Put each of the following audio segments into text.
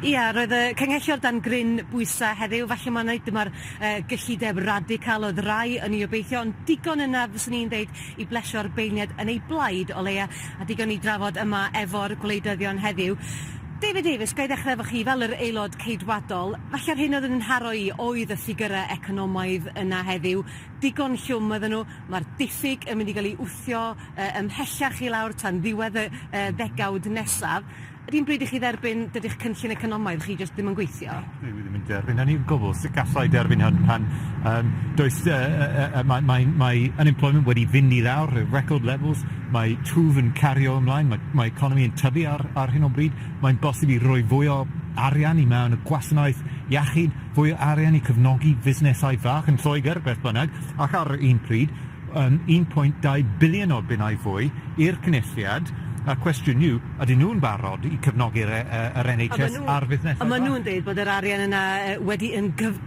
Ia, roedd y Cynghellor dan gryn bwysa heddiw, falle mae'n rhaid dyma'r uh, gyllideb radical oedd rai yn ei obeithio, ond digon yna fyswn i'n dweud i blesio'r beirniad yn ei blaid o leia, a digon i drafod yma efo'r gwleidyddion heddiw. David Davies, ga i ddechrau efo chi fel yr aelod ceidwadol, falle'r hyn oedd yn nharo i oedd y ffigurau economaidd yna heddiw, digon llwm ydyn nhw, mae'r diffyg yn mynd i gael ei wthio uh, ymhellach i lawr tan ddiwedd y uh, ddegawd nesaf, Ydy yn bryd i chi dderbyn dydych cynllun economaidd chi jyst ddim yn gweithio? Dwi ddim yn derbyn hynny o gwbl. Sut galla i derbyn hyn pan um, does, uh, uh, uh, mae, mae, mae unemployment wedi fynd i lawr, record levels, mae twf yn cario ymlaen, mae, mae economi yn tyfu ar, ar hyn o bryd, mae'n bosib i roi fwy o arian i mewn y gwasanaeth iechyd, fwy o arian i cyfnogi fusnesau fach yn Lloegr, beth bynnag, ac ar un pryd, yn 1.2 biliwn o bunnau fwy i'r Cynulliad, a'r cwestiwn yw, ydyn nhw'n barod i cefnogi'r yr NHS a'r fusnesau bach? A maen nhw'n dweud bod yr arian yna wedi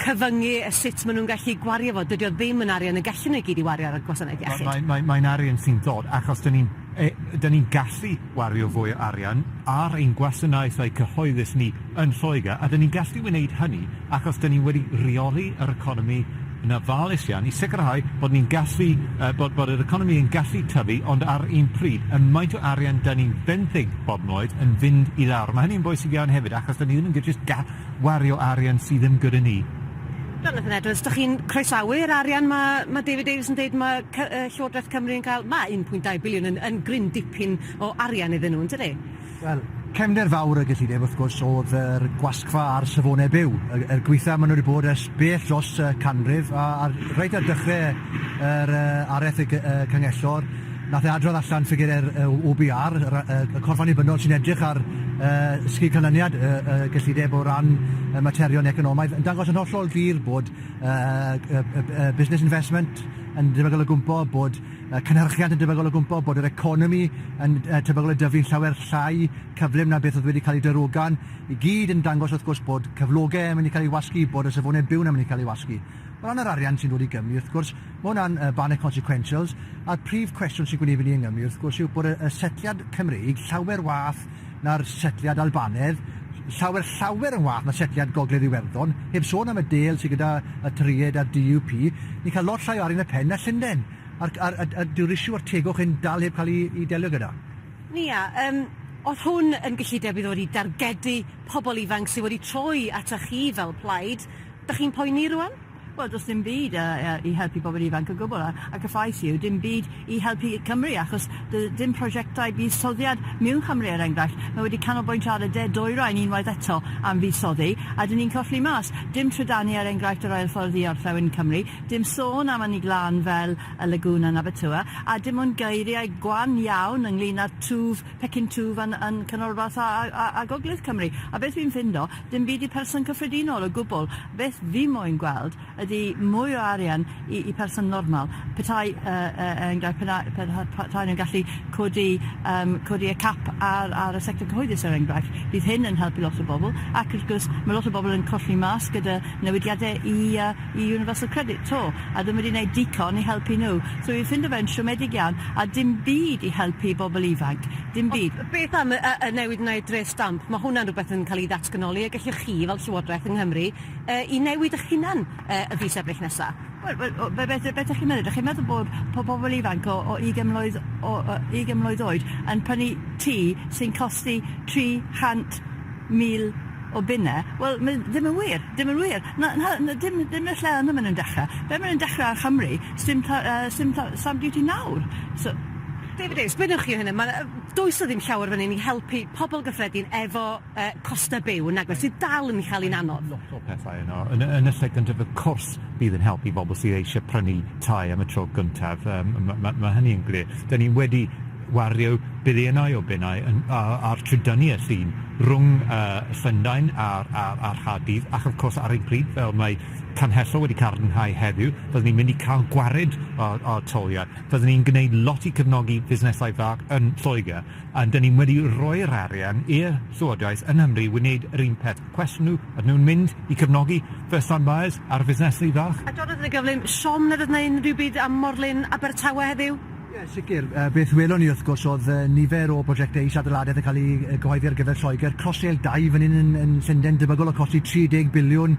cyfyngu sut maen nhw'n gallu gwario fo. Dydy o ddim yn arian y gallwn nhw i gyd i wario ar y gwasanaeth iechyd. Mae'n mae, mae, mae arian sy'n dod achos dyn ni'n e, dyn ni'n gallu wario fwy o arian ar ein gwasanaethau cyhoeddus ni yn Lloegr, a 'dyn ni'n gallu wneud hynny achos 'dyn ni wedi rheoli yr economi yn ofalus iawn i sicrhau bod ni'n gallu yy bod bod yr economi yn gallu tyfu ond ar un pryd y maint o arian 'dyn ni'n benthyg bob noed yn fynd i lawr. Mae hynny'n bwysig iawn hefyd achos 'dyn ni ddim yn jyst ga- wario arian sydd ddim gyda ni. Jonathan Edwards, dych chi'n croesawu'r arian mae ma' David Davies yn dweud mae cy- yy Llywodraeth Cymru yn cael, mae 1.2 biliwn yn yn gryn dipyn o arian iddyn nhw, yn dydi? Wel, cefnder fawr y gyllideb, wrth gwrs, oedd yr gwasgfa a'r safonau byw. Y y gweitha ma' nw 'di bod ers bell dros y canrif a a reit ar dechre yr yy aretheg y y Cyngellor nath e adrodd allan ffigyre'r yy Owe Bee Are yr a- yy y corff annibynnol sy'n edrych ar yy sgil canlyniad y y gyllideb o ran y materion economaidd yn dangos yn hollol glir bod yy y y y busnes investment yn debygol o gwmpo bod Mae cynhyrchiant yn debygol o gwmpo, bod yr economi yn tebygol o dyfu'n llawer llai cyflym na beth oedd wedi cael ei darogan, i gyd yn dangos wrth gwrs bod cyflogau yn mynd i cael ei wasgu, bod y safonau byw'n yn mynd i cael ei wasgu. O ran yr arian sy'n dod i Gymru, wrth gwrs, mae hwnna'n ban y consequentials, a'r prif cwestiwn sy'n gwneud fyny yng Nghymru, wrth gwrs, yw bod y setliad Cymreig llawer wath na'r setliad Albanaidd, llawer, llawer yn wath na setliad Gogledd Iwerddon, heb sôn am y dêl sydd gyda y Tried a'r DUP, ni'n cael lot llai o arian y pen na Llunden, a'r, a'r, a'r, a'r dyw'r issue o'r tegwch hyn dal heb cael ei, ei delio gyda. Nia, um, oedd hwn yn gyllideb i ddod i dargedu pobl ifanc sydd wedi troi ata chi fel plaid? Dych chi'n poeni rwan? Wel, does dim byd yy yy i helpu pobl ifanc o gwbl, a a cyffrous yw dim byd i helpu Cymru, achos doedd dim prosiectau buddsoddiad mewn Cymru, er enghraifft. Mae wedi canolbwyntio ar y de dwyrain unwaith eto am fuddsoddi, a 'dyn ni'n colli mas. Dim trydanu, er enghraifft, yr ail ffordd i orllewin Cymru, dim sôn am ynni glân fel y Lagŵn yn Abertawe, a dim ond geiriau gwan iawn ynglŷn â twf, pecyn twf yn yn Canolbarth a a a a Gogledd Cymru. A beth fi'n ffindo, dim byd i person cyffredinol o gwbl. Beth fi moyn gweld ydi mwy o arian i i person normal. Petai yy yy er enghraifft pena- pe- ha- pa- tai nhw'n gallu codi yym codi y cap ar ar y sector cyhoeddus er enghraifft bydd hyn yn helpu lot o bobl ac wrth gwrs ma' lot o bobl yn colli mas gyda newidiade i yy i Universal Credit to a ddim wedi neud dico i helpu nhw so fi'n ffindo fe'n siomedig iawn a dim byd i helpu bobl ifanc dim byd. Beth am y newid yna i'r dreth stamp? Mae hwnna'n rhywbeth yn cael ei ddatganoli a gellwch chi, fel Llywodraeth yng Nghymru, ei newid eich hunan y fis Ebrill nesaf. Wel, wel, o, be, be, be ydych chi'n meddwl? Ydych chi'n meddwl bod po- pobl ifanc o, o ugain mlwydd, o, o ugain mlwydd oed yn prynu tŷ sy'n costi 300,000 o bunne? Wel, mae ddim yn wir. Dim yn wir. Na, na, na, dim, dim y lle yna maen nhw'n dechrau. Be maen nhw'n dechrau ar Chymru, sdim ta, uh, sdim ta, stamp duty nawr. So, David Davies, be wnewch chi o hyn? Mae yy does 'na ddim llawer fan hyn i helpu pobl gyffredin efo yy costa byw nag oes, sydd dal yn cael 'i'n anodd. Mae lot o pethau yno. Yn y yn y lle gyntaf wrth cwrs bydd yn helpu bobl sydd eisiau prynu tai am y tro gyntaf yym ma' ma' ma' hynny yn glir. 'Dan ni wedi wario biliynau o bunnau yn a- a- ar trydynnu y llun rhwng yy Llundain a'r a'r a'r Nghaerdydd ac wrth cwrs ar ein pryd fel mae Canghellor wedi cadarnhau heddiw byddwn ni'n mynd i ca'l gwared o o'r toliau. Fyddwn ni'n gwneud lot i cefnogi busnesau bach yn Lloegr, a 'dyn ni wedi rhoi'r arian i'r Llywodraeth yng Nghymru wneud yr un peth. Cwestiwn yw, ydyn nhw'n mynd i cefnogi first time buyers a'r busnesau bach? A dorrodd yn y gyflym, Siom, na fydd 'na unrhyw byd am morlin Abertawe heddiw? Ie, sicr. Beth welon ni wrth gwrs oedd nifer o brojectau is-adeiladaeth yn cael eu cyhoeddi ar gyfer Lloegr, Crossrail dau fan hyn yn Llundain debygol o costi 30 biliwn,